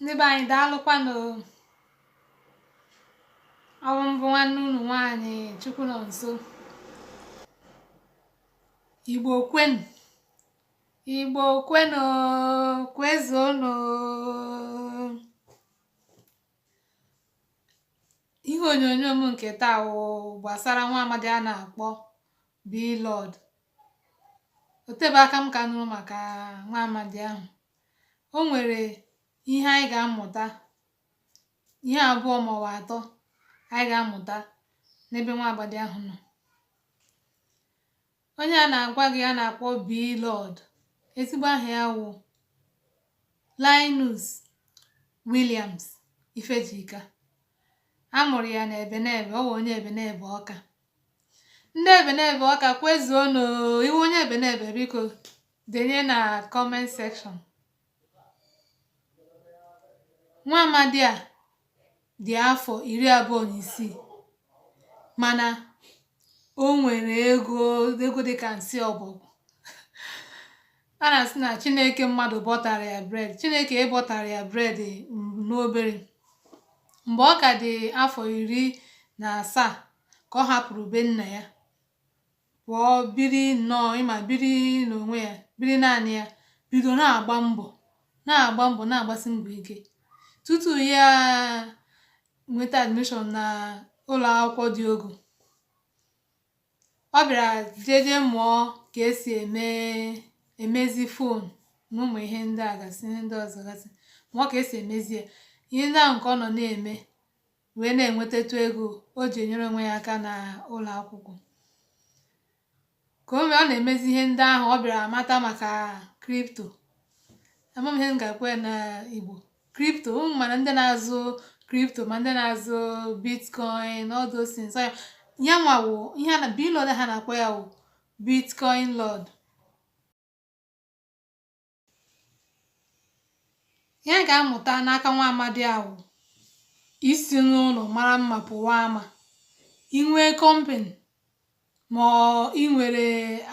ndị be anyị daalụkwanụ ọ wụ m bụ nwanne unu nwaanyị Chukwunọnso igbo kwenu igbo kwenu kwezuonụ ihe onyonyo m nke taa wụ gbasara nwa amadi a na-akpọ Blord o tebe aka m ka nụrụ maka nwa amadi ahụ o nwere ihe anyị ga-amụta ihe abụọ ma ọ wụ atọ anyị ga-amụta n'ebe nwa amadi ahụ nọ onye a na-agwa gị a na-akpọ Blord ezigbo aha ya wụ Linus Williams Ifejika a mụrụ ya na Ebenebe ọ wụ onye Ebenebe Ọka ndị Ebenebe Ọka kwezuonụ ị wụ onye Ebenebe biko denye na comment section nwa amadi a dị afọ iri abụọ na isii mana o nwere ego dịka nsị ọbọgwụ a na-asị na chineke mmadụ bọtara ya bread chineke bọtara ya bread n'obere mgbe ọ ka dị afọ iri na asaa ka ọ hapụrụ be nna ya pụọ biri nnọọ ị ma biri n'onwe ya biri naanị ya bido na-agba mbọ na-agba mbọ na-agbasi mbọ ike tutu ya nweta admission na ụlọ akwụkwọ dị ogo ọ bịara jeje mụọ ka e si eme emezi phone na ụmụ ihe ndị a gasị ihe ndị ọzọ gasị mụọ ka e si emezi ya ihe ndị ahụ nke ọ nọ na-eme wee na-enwetatụ ego o ji enyere onwe ya aka na ụlọ akwụkwọ mgbe ọ na-emezi ihe ndị ahụ ọ bịara mata maka crypto ama m ihe m ga-ekwu na igbo crypto ụmụ mana ndị na-azụ crypto ma ndị na-azụ bitcoin all those things ya nwa wụ ihe a na Blord ha na-akpọ ya wụ bitcoin lord ihe a ga-amụta n'aka nwa amadi a wụ isi n'ụlọ mara mma pụwa ama i nwee company ma i nwere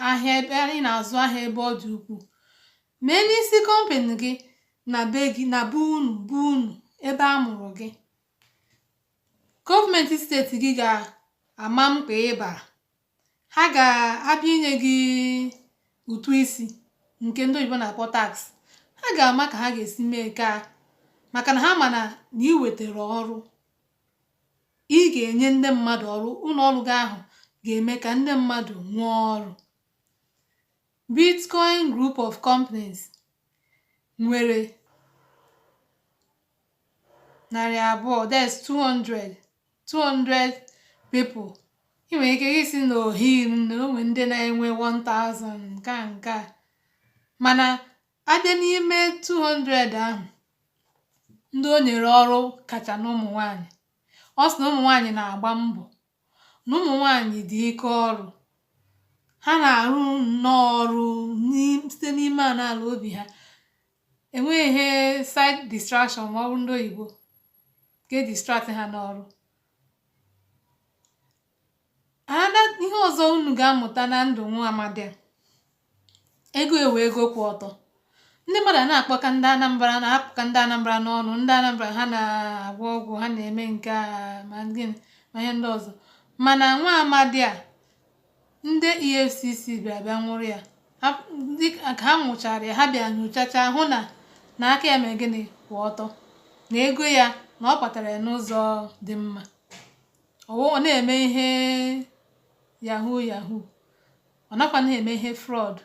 ahịa ebe ị na-azụ ahịa ebe ọ dị ukwuu mee n'isi company gị na be gị na be unu be unu ebe a mụrụ gị gọọmenti steeti gị ga-ama mkpa ị bara ha ga-abịa inye gị ụtụ isi nke ndị oyibo na-akpọ tax ha ga-ama ka ha ga-esi mee nke a maka na ha ma na na i wetara ọrụ Ị ga-enye ndị mmadụ ọrụ, ụlọ ọrụ gị ahụ ga-eme ka ndị mmadụ nwee ọrụ. Bitcoin Group of Companies nwere narị abụọ that's 200 people ị nwere ike ịsị na o hiri nne o nwe ndị na-enwe 1000 nke a nke a mana a bịa n'ime 200 ahụ ndị o nyere ọrụ kacha na ụmụ nwanyị ọ sị na ụmụ nwanyị na-agba mbọ na ụmụ nwanyị dị ike ọrụ ha na-arụ nnọọ ọrụ site n'ime ala obi ha enweghị ihe side distraction ma ọ bụ ndị oyibo ga-edistract ha n'ọrụ ihe ọzọ unu ga-amụta na ndụ nwa amadi a ego ya wụ ego kwụ ọtọ ndị mmadụ na-akpọka ndị anambra na-akpụka ndị anambra n'ọnụ ndị anambra ha na-agwọ ọgwụ ha na-eme nke a ma gịnị ma ihe ndị ọzọ mana nwa amadi a ndị efcc bịa bịa nwụrụ ya ka ha nwụchara ya ha bịa nyochacha hụ na na aka ya mee gịnị kwụ ọtọ na ego ya na ọ kpatara ya n'ụzọ dị mma ọ wụ ọ na-eme ihe yahoo yahoo ọ nakwa na-eme ihe fraud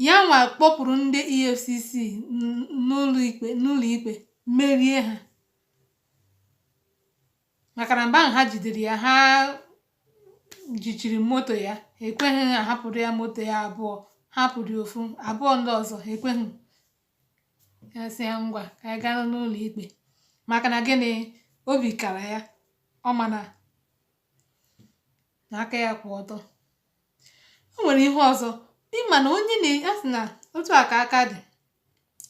ya nwa kpọpụrụ ndị efcc n'ụlọ ikpe merie ha maka na mgbe ahụ ha jidere ya ha jichiri moto ya ekweghị ahapụrụ ya moto ya a bịa hapụrụ ya ofu abụọ ndị ọzọ ekweghị asị ya ngwa ka anyị gaa n'ụlọ ikpe maka na gịnị obi kara ya ọ ma na aka ya kwụ ọtọ o nwere ihe ọzọ ị ma na onyinye a sị na otu a ka aka dị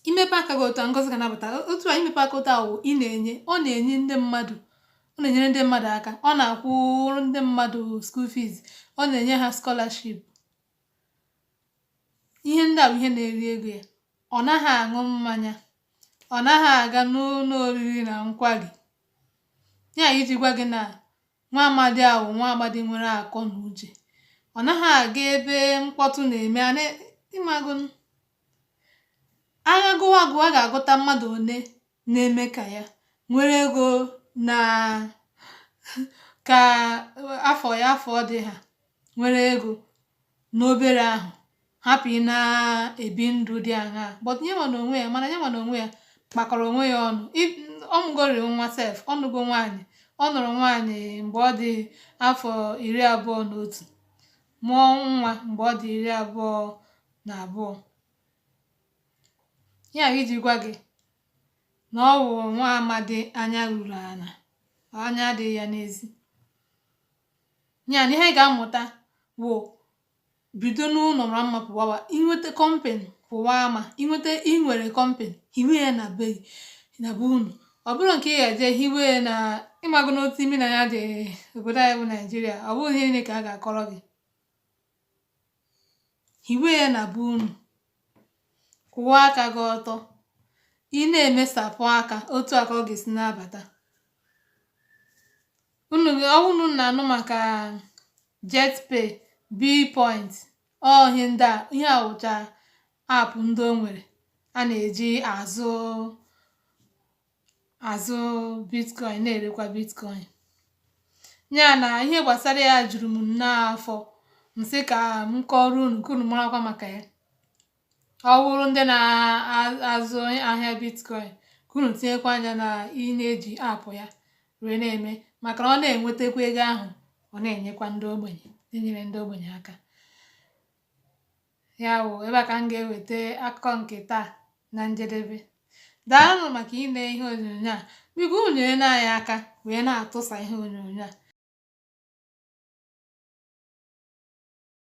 i mepe aka gị otu a ngozi ga na-abata otu a i mepe aka otu a wụ ị na-enye ọ na-enye ndị mmadụ ọ na-enyere ndị mmadụ aka ọ na-akwụrụ ndị mmadụ school fees ọ na-enye ha scholarship ihe ndị a wụ ihe na-eri ego ya ọ naghị aṅụ mmanya ọ naghị aga n'ụlọ oriri na nkwari ya iji gwa gị na nwa amadi a wụ nwa amadi nwere akọ na uche ọ naghị aga ebe mkpọtụ na-eme ị mago a ga-agụwa agụwa ga-agụta mmadụ one na-eme ka ya nwere ego na ka afọ ya afọ dị ha nwere ego n'obere ahụ hapụ ịna-ebi ndụ dị aṅaa but ya nwa na onwe ya mana ya nwa na onwe ya kpakọrọ onwe ya ọnụ ọ mụgoriri nwa sef ọ nụgo nwaanyị ọ nụrụ nwaanyị mgbe ọ dị afọ iri abụọ na otu mụọ nwa mgbe ọ dị iri abụọ na abụọ ya bụ iji gwa gị na ọ bụ nwa amadi anya ruru ala anya adịghị ya n'ezi ya na ihe anyị ga-amụta wụ bido n'ụlọ mara mma pụwawa i nweta company pụwa ama i nweta i nwere company hiwe ya na be na be unu ọ bụrụ nke ị ga-eje hiwe ya na ị mago n'otu imi na anya dị obodo anyị bụ naijiria ọ bụghị ihe niile ka a ga-akọrọ gị hiwe ya na be unu kwụwa aka gị ọtọ ị na-emesapụ aka otu a ka ọ ga-esi na-abata unu ọ wụ unu na-anụ maka jetpay billpoint ọ ihe ndị a ihe a wụcha app ndị o nwere a na-eji azụ azụ bitcoin na-erekwa bitcoin ya na ihe gbasara ya juru m n'afọ m sị ka m kọọrọ unu ka unu marakwa maka ya ọ bụrụ ndị na-azụ ahịa bitcoin ka unu tinyekwa anya na ị na-eji app ya wee na-eme maka na ọ na-enwetakwa ego ahụ ọ na-enyekwa ndị ogbenye na-enyere ndị ogbenye aka ya wụ ebe a ka m ga-eweta akụkọ nke taa na njedebe daalụ maka ile ihe onyonyo a biko unu nyere anyị aka wee na-atụsa ihe onyonyo a